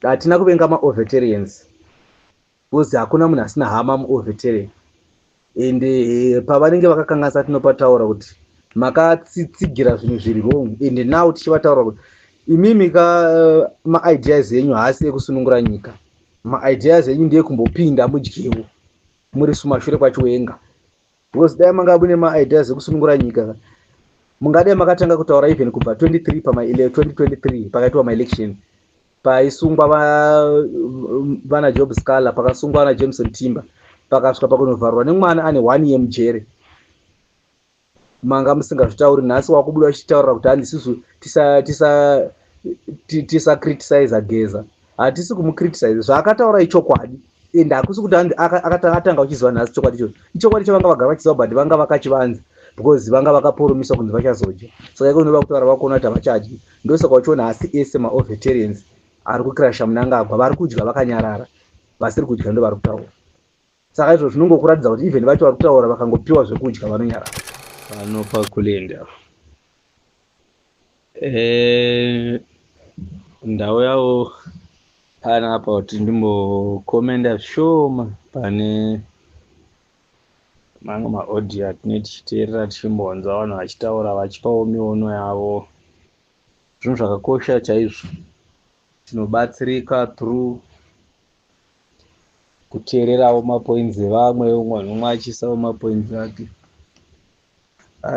hatina kuvenga maovetarians because hakuna munhu asina hama muovetarian and eh, pavanenge vakakanganisa tinopataura kuti makatsitsigira zvinhu zviri wrong and now tichivataura kuti imimi ka eh, maideas enyu haasi ekusunungura nyika maideas enyu ndeyekumbopinda mudyewo muri sumashure kwachiwenga because dai manga mune maideas ekusunungura nyika ka mungadai makatanga kutaura even kubva 23 pa2023 pakaitwa maelection paisungwa vana job scaler pakasungwa vana jameson timber pakasvika pakunovharwa nemwana ane one year mujere manga musingazvitauri nhasi wakubuda uchitaurira kuti handisisu tisacritisiza geza hatisi kumucriticize zvaakataura ichokwadi and hakusi kuti akatanga uchiziva nhasi chokwadi ichocho ichokwadi chavanga vagara vachiziva but vanga vakachivanza because vanga vakaporomiswa kunzi vachazodya saka iko unoda kutaura vakuona kuti havachadyi ndosaka uchiona hasi ese maoveterians ari kukrasha munangagwa vari kudya vakanyarara vasiri kudya ndo vari kutaura saka izvo zvinongokuratidza kuti even vacho vari kutaura vakangopiwa zvekudya vanonyara vanopa kulinda eh, ndau yavo pana apa kuti ndimbokomenda zvishoma pane mamwe maaudio atine tichiteerera tichimbonzwa vanhu vachitaura vachipawo miono yavo zvinhu zvakakosha chaizvo tinobatsirika through kuteererawo mapoints evamwe umwe nomwe achiisawo mapoints ake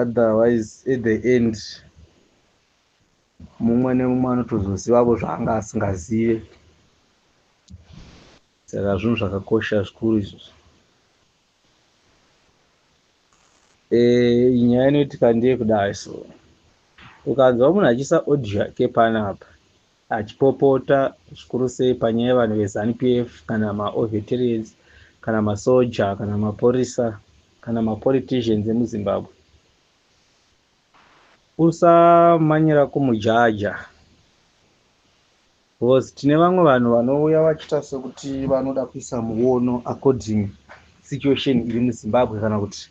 otherwise at the end mumwe nemumwe anotozozivavo zvaanga asingazive saka zvinhu zvakakosha zvikuru izvozvo e, nyaya inoitika ndeye kudai so ukanzwa munhu achiisa audio yake panapa achipopota zvikuru sei panyaya yevanhu veZanu PF kana maOveterans kana masoja kana maporisa kana mapoliticians emuZimbabwe. Usamanyira kumujaja because tine vamwe vanhu vanouya vachiita sekuti vanoda kuisa muono according situation iri muZimbabwe kana kuti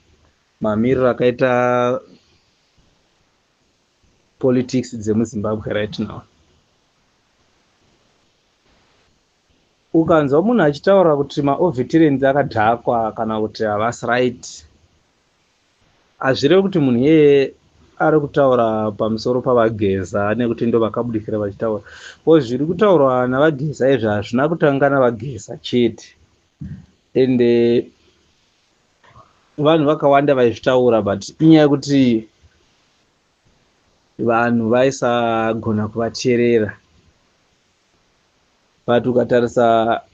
mamiriro akaita politics dzemuzimbabwe right now ukanzwa munhu achitaura kuti maoveterans akadhakwa kana kuti havasi right hazvirevi kuti munhu iyeye ari kutaura pamusoro pavageza nekuti ndo vakabudikira vachitaura ko zviri kutaurwa navageza izvi hazvina kutanga navageza chete ende vanhu vakawanda vaizvitaura but inyaya yekuti vanhu vaisagona kuvateerera but ukatarisa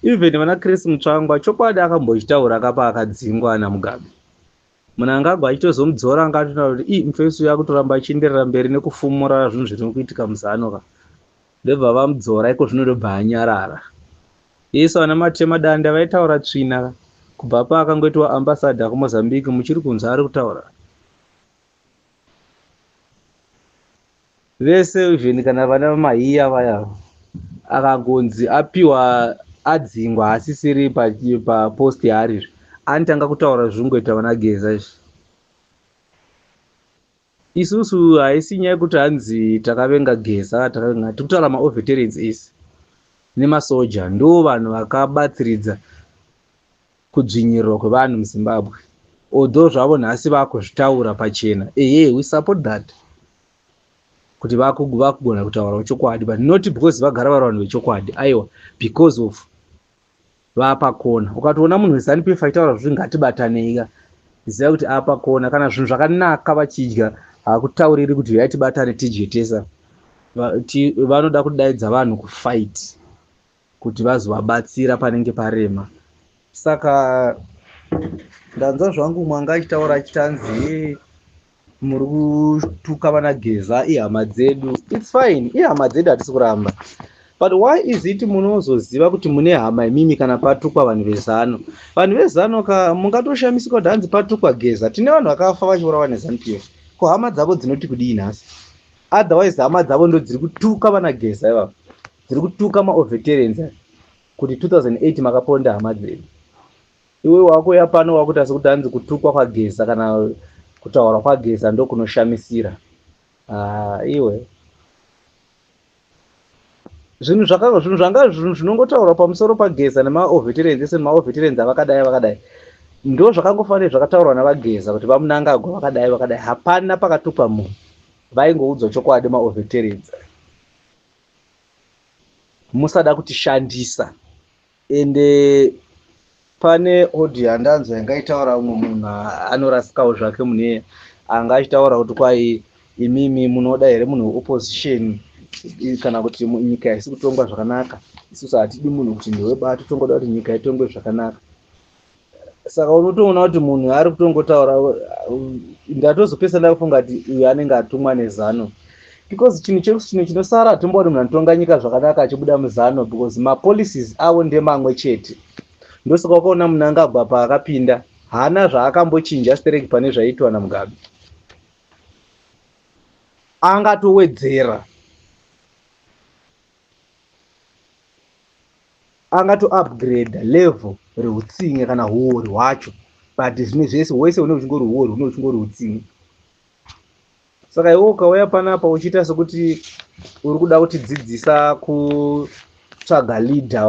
even vana chris mutsvangwa chokwadi akambochitaura kapa akadzingwa ana mugabe munangagwa achitozomudzora anga atona kuti ii mufesi uyo akutoramba achienderera mberi nekufumura zvinhu zviri kuitika muzano ka Ndobva vamudzora iko zvino ndobva anyarara. Isu ana matema danda vaitaura tsvina kubva paakangoitwa ambassador kuMozambique muchiri kunzwa ari kutaura. Vese even kana vana vamahiya vaya akagonzi apiwa adzingwa asisiri papost pa yaari anotanga kutaura zvingoita vana geza izvi. Isusu haisi nyaya yekuti hanzi takavenga Geza, takavenga tikutaura ma overterence ese nemasoja ndo vanhu vakabatsiridza kudzvinyirirwa kwevanhu muZimbabwe although zvavo nhasi vakuzvitaura pachena ehe we support that kuti vakugona kutaurawo chokwadi but not because vagara vari vanhu vechokwadi aiwa because of Vapa kona. Ukatoona munhu weZanu PF achitaura zvekuti ngatibatanei ka ziva kuti apa kona kana zvinhu zvakanaka vachidya hakutauriri kuti huyai tibatane tidye tesa vanoda kudaidza vanhu kufight kuti vazovabatsira panenge parema saka ndanzwa zvangu mwanga achitaura achitanzi muri kutuka vana geza ihama dzedu its fine ihama dzedu hatisi kuramba but why is it munozoziva kuti mune hama imimi kana patukwa vanhu vezano vanhu vezano ka mungatoshamisika kuti hanzi patukwa geza tine vanhu vakafa vachiurawa nezanu pf ko hama dzavo dzinoti kudii nhasi otherwise hama dzavo ndo dziri kutuka vana geza ivavo dziri kutuka maoveterens kuti 2008 makaponda hama dzedu Iwe wakuuya pano wakuita sekuti hanzi kutukwa kwageza kana kutaura kwageza ndokunoshamisira. Ah, iwe zvinhu zvakanga zvinhu zvanga zvinhu zvinongotaurwa pamusoro pageza nemaoveterens ese nemaoveterens avakadai vakadai ndo zvakangofanira zvakataurwa navageza kuti vamunangagwa vakadai vakadai hapana pakatukwa munhu vaingoudzwa chokwadi maoveterens musada kutishandisa ende pane audio yandanzwa yanga itaura umwe munhu anorasikawo zvake mune anga achitaura kuti kwai imimi munoda here munhu weopposition kana kuti nyika haisi kutongwa zvakanaka isusu hatidi munhu kuti ndewebato tongoda kuti nyika itongwe zvakanaka saka unotoona kuti munhu ari kutongotaura uh, ndatozopesa ndakufunga kuti uyu anenge atumwa nezano because chinhu chechino chinosara hatimbo kuti munhu anotonga nyika zvakanaka achibuda muzano because mapolicies avo ndemamwe chete ndosaka wakaona munhu anga agwa paakapinda haana zvaakambochinja stereki pane zvaiitwa namugabe angatowedzera anga to upgrade level reutsinye kana huori hwacho but zvimwe zvese wese une uchingori huori une uchingori utsinye saka iwe ukauya panapa uchiita sekuti uri kuda kutidzidzisa kutsvaga leader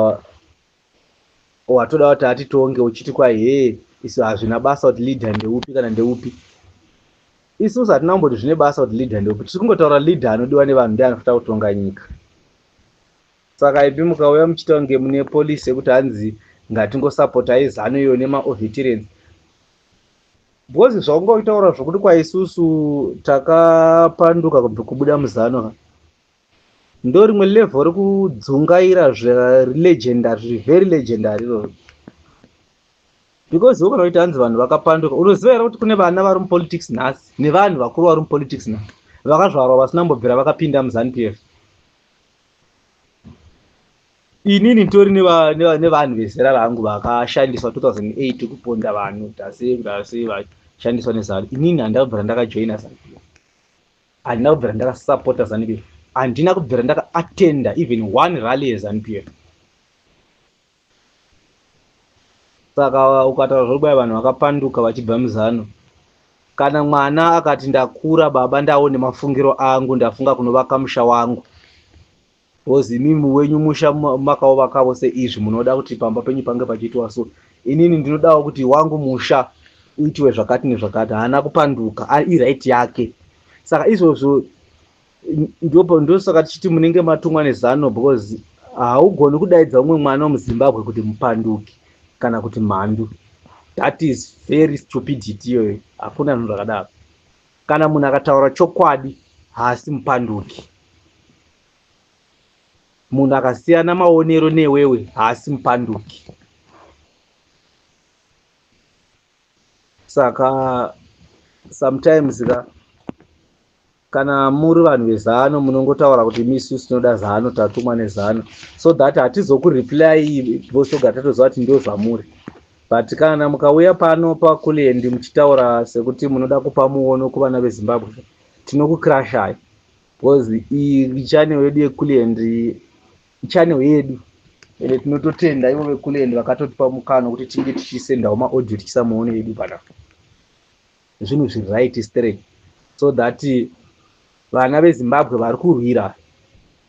watoda kuti atitonge uchiti kwahee isu hazvina basa kuti leader ndeupi kana ndeupi isusu hatina kumboti zvine basa kuti leader ndeupi tiri kungotaura leader anodiwa nevanhu ndi anofanira kutonga nyika saka ipi mukauya muchiita kunge mune police yekuti hanzi ngatingosapotai zano iyo nemaovetirance because zvaungaitaura zvokuti kwaisusu takapanduka kubuda muzano Ndorimwe level rekudzungaira zvelegendary zviri very legendary iroro because ukona kuti hanzi vanhu vakapanduka unoziva here kuti kune vana vari mupolitics nhasi nevanhu vakuru vari mupolitics nhasi vakazvarwa vasina mbobvira vakapinda muzanupf inini nditori nevanhu vezera rangu vakashandiswa 2008 kuponda vanhu tase ndase vashandiswa nezanu inini handabvira ndakajoina zanupf handina kubvira ndakasapota zanupf handina kubvira ndakaattenda even one rally yezanupf saka ukataura zvokubaya vanhu vakapanduka vachibva muzano kana mwana akati ndakura baba ndawo nemafungiro angu ndafunga kunovaka musha wangu Because imimi wenyu musha makauvakavo seizvi munoda kuti pamba penyu pange pachiitwa so. Inini ndinodawo kuti wangu musha uitiwe zvakati nezvakati. Haana kupanduka, iright yake. Saka izvozvo ndosaka tichiti munenge matumwa nezano because haugoni kudaidza umwe mwana wemuzimbabwe kuti mupanduki kana kuti mhandu. That is very stupidity iyoyo. Hakuna zvinhu zvakadaro. Kana munhu akataura chokwadi haasi mupanduki. Munhu akasiyana maonero newewe haasi mupanduki. Saka sometimes ka kana muri vanhu vezano munongotaura kuti misu tinoda zano tatumwa nezano so that hatizokureply vosogara tatoziva kuti ndozvamuri But kana mukauya pano paCulliant muchitaura sekuti munoda kupa muono kuvana veZimbabwe tinokukirashai because iyi channel yedu yeCulliant channel yedu ende tinototenda ivo veCulliant vakatotipa mukana kuti tinge tichisendawo maaudio tichisa muono yedu panapa zvinhu zviri right straight so that vana vezimbabwe vari kurwira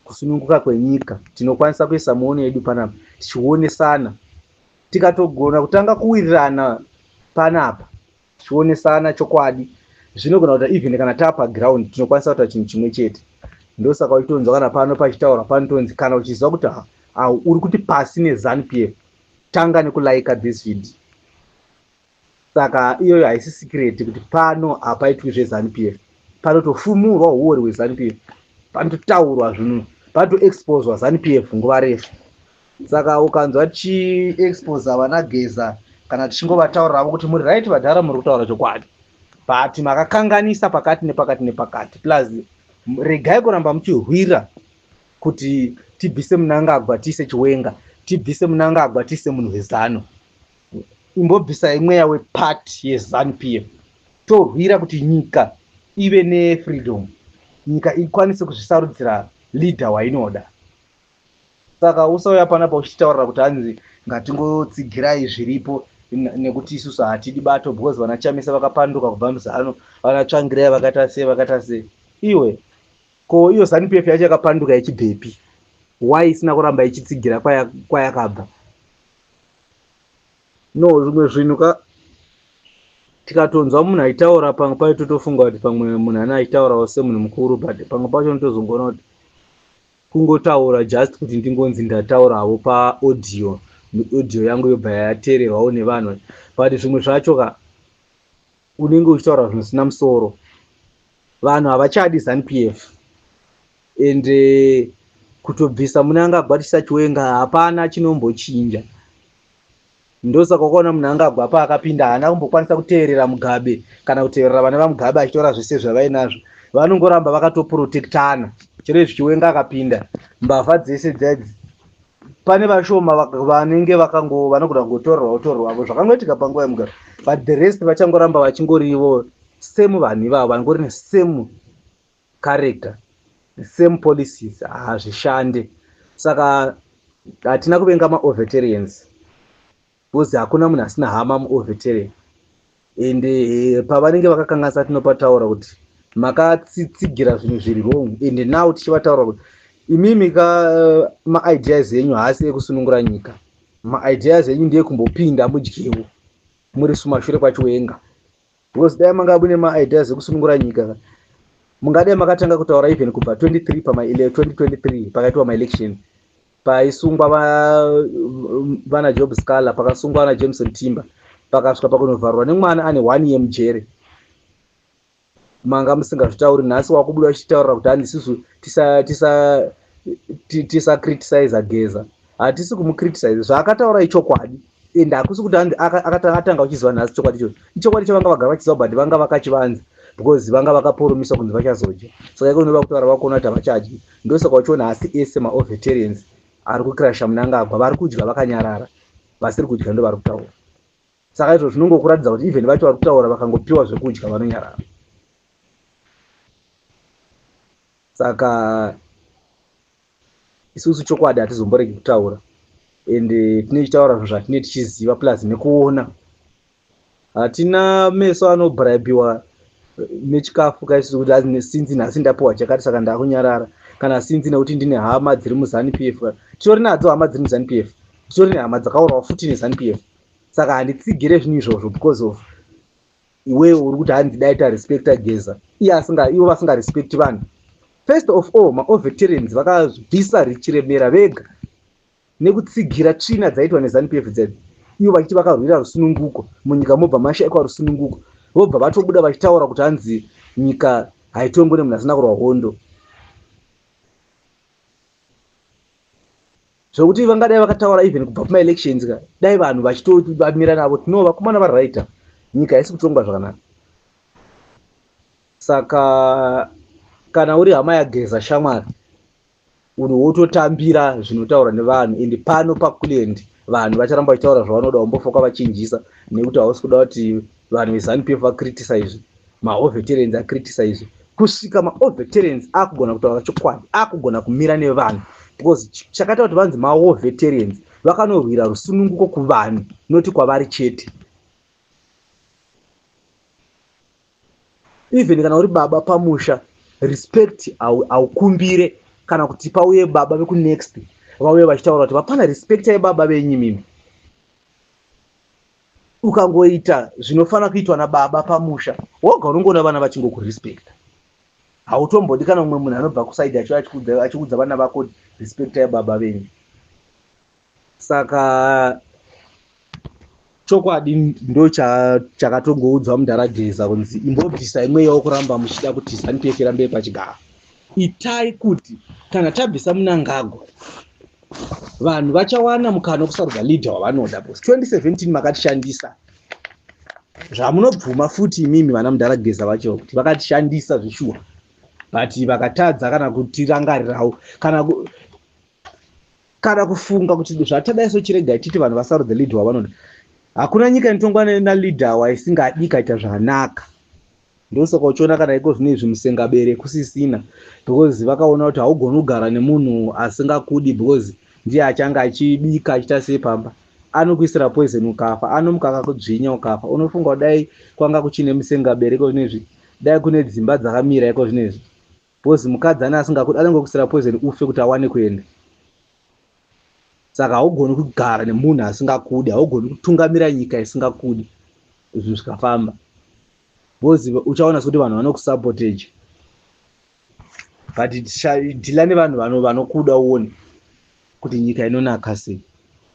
kusununguka kwenyika tinokwanisa kuisa muono yedu panapa tichionesana tikatogona kutanga kuwirirana panapa tichionesana chokwadi zvinogona kuita even kana tapa ground tinokwanisa kuita chinhu chimwe chete ndosaka uchitonzwa kana pano pachitaura panotonzi kana uchiziva kuti uri kuti pasi nezanu pf tanga nekulaika this video saka iyoyo haisi sikireti kuti pano hapaitwi zvezanupf panotofumurwa huori hwezanupf panototaurwa zvinhu panotoexposwa zanupf nguva refu saka ukanzwa tichiexposa vana geza kana tichingovataurira vo kuti muri right vadhara muri kutaura chokwadi but makakanganisa pakati nepakati nepakati plus regai kuramba muchihwira kuti tibvise munangagwa tiise chiwenga tibvise munangagwa tiise munhu wezano imbobvisai mweya wepati yezanu p f torwira kuti nyika ive nefreedom nyika ikwanise kuzvisarudzira leader wainoda saka usauya panapa uchitaurira kuti hanzi ngatingotsigirai zviripo nekuti isusu hatidi bato because vana chamisa vakapanduka kubva muzano vana tsvangirai vakaita sei vakaita sei iwe ko iyo zanup f yacho yakapanduka ichibvepi why isina kuramba ichitsigira kwayakabva No zvimwe zvinhu ka tikatonzwa munhu aitaura pamwe pacho totofunga kuti pamwe munhu ana aitaurawo semunhu mukuru but pamwe pacho unotozongoona kuti kungotaura just kuti ndingonzi ndatauravo paaudio audio yangu yobva yateererwawo nevanhu but zvimwe zvacho ka unenge uchitaura zvinosina musoro vanhu havachadi zanupf and eh, kutobvisa mune angagwa tisachiwenga hapana chinombochinja ndosaka ukaona munhu angagwa paakapinda haana kumbokwanisa kuteerera mugabe kana kuteerera vana vamugabe achitora zvese zvavainazvo vanongoramba vakatoprotectana chero izvi chiwenga akapinda mbavha dzese dzadzi pane vashoma vanenge vakango vanogona kungotorwa utorwa avo zvakangoitika panguva yemugaro but the rest vachangoramba vachingorivo same vanhu ivavo vangori nesame character the same policies hazvishande saka hatina kuvenga maovetarians because hakuna munhu asina hama muovetarian and eh, pavanenge vakakanganisa tinopataura kuti makatsitsigira zvinhu zviri wrong and now tichivataura kuti imimi ka eh, maideas enyu haasi ekusunungura nyika maideas enyu ndeyekumbopinda mudyewo muri sumashure kwachiwenga because dai manga mune maideas ekusunungura nyika ka mungadai makatanga kutaura even kubva 23 pama 2023 pakaitwa maelection paisungwa vana va job scaler pakasungwa vana jameson timber pakasvika pakunovharwa nemwana ane one year mujere manga musingazvitauri nhasi wakubuda uchitaurira kuti handi isusu tisacritisiza geza hatisi kumucritisize zvaakataura ichokwadi and hakusi kuti akatanga uchiziva nhasi chokwadi ichocho ichokwadi chavanga vagara vachiziva but vanga vakachivanza because vanga vakaporomisa kunzi vachazodya saka iko unoda kutaura vakuona kuti havachadyi ndosaka uchiona hasi ese maoveterians ari kukrasha munangagwa vari kudya vakanyarara vasiri kudya ndo vari kutaura saka izvo zvinongokuratidza kuti even vacho vari kutaura vakangopiwa zvekudya vanonyarara saka isusu chokwadi hatizomboregi kutaura and eh, tine chitaura zvinhu zvatine tichiziva plus nekuona hatina meso anobraibiwa eh, nechikafu kaisusu kuti ah, sinzi nhasi ndapiwa chakati saka ndakunyarara kana sinzi nekuti ndine hama dziri muzanu p f titori nadzo hama dziri muzanu p f titori nehama dzakaurawa futi nezanu p f saka handitsigire zvinhu izvozvo because of iwe uri kuti hanzi dai tarespecta geza iye asinga ivo vasingarespecti vanhu first of all maoveterans vakabvisa richiremera vega nekutsigira tsvina dzaitwa nezanup f dzedzi ivo vachiti vakarwira rusununguko munyika mobva mashaikwa rusununguko vobva vatobuda vachitaura kuti hanzi nyika haitongwe nemunhu asina kurwa hondo zvekuti vangadai vakataura even kubva kumaelections ka dai vanhu vachitobamira navo tino vakomana varighta nyika haisi kutongwa zvakanaka saka kana uri hama yageza shamwari uri wototambira zvinotaura nevanhu and pano pakuland vanhu vacharamba vachitaura zvavanoda wambofoka vachinjisa nekuti hausi kuda kuti vanhu vezanupf vacriticise maoveterans acriticise kusvika maoveterans akugona kutaura chokwadi akugona kumira nevanhu because chakaita kuti vanzi maoveterans vakanorwira rusununguko kuvanhu noti kwavari chete even kana uri baba pamusha respect haukumbire kana kuti pauye baba vekunext vauye vachitaura kuti vapana respect yebaba venyimimi ukangoita zvinofanira kuitwa nababa pamusha woga unongoona vana vachingokurespecta hautombodi kana umwe munhu anobva kusaidi acho achiudza vana vako respecta yababa venyu saka chokwadi ndo chakatongoudzwa mudhara geza kunzi imbobvisa imweyawo kuramba muchida kuti zanupf irambe pachigaro Itai kuti kana tabvisa Mnangagwa vanhu vachawana mukana wekusarudza leader wavanoda bcause 2017 makatishandisa zvamunobvuma futi imimi vana mudhara geza vacho kuti vakatishandisa zvishuwa but vakatadza kana kutirangarirawo kana kana kufunga kuti zvatadai so chiregai titi vanhu vasarudze leader wavanoda hakuna nyika inotongwa naleader waisingadi ikaita zvanaka ndosaka uchiona kana iko zvine izvi musengabere kusisina because vakaona kuti haugoni kugara nemunhu asingakudi because ndiye achange achibika achiita sei pamba anokuisira poison ukafa anomuka akakudzvinya ukafa unofunga kudai kwanga kuchine musengabere iko zvine izvi dai kune dzimba dzakamira iko zvine izvi Because mukadzi ane asingakuda anongokusira poison ufe kuti awane kuenda. Saka haugoni kugara nemunhu asingakudi, haugoni kutungamira nyika isingakudi zvinhu zvikafamba. Because uchaona sekuti vanhu vanokusapoteja. But dhila nevanhu vanokuda uone kuti nyika inonaka sei.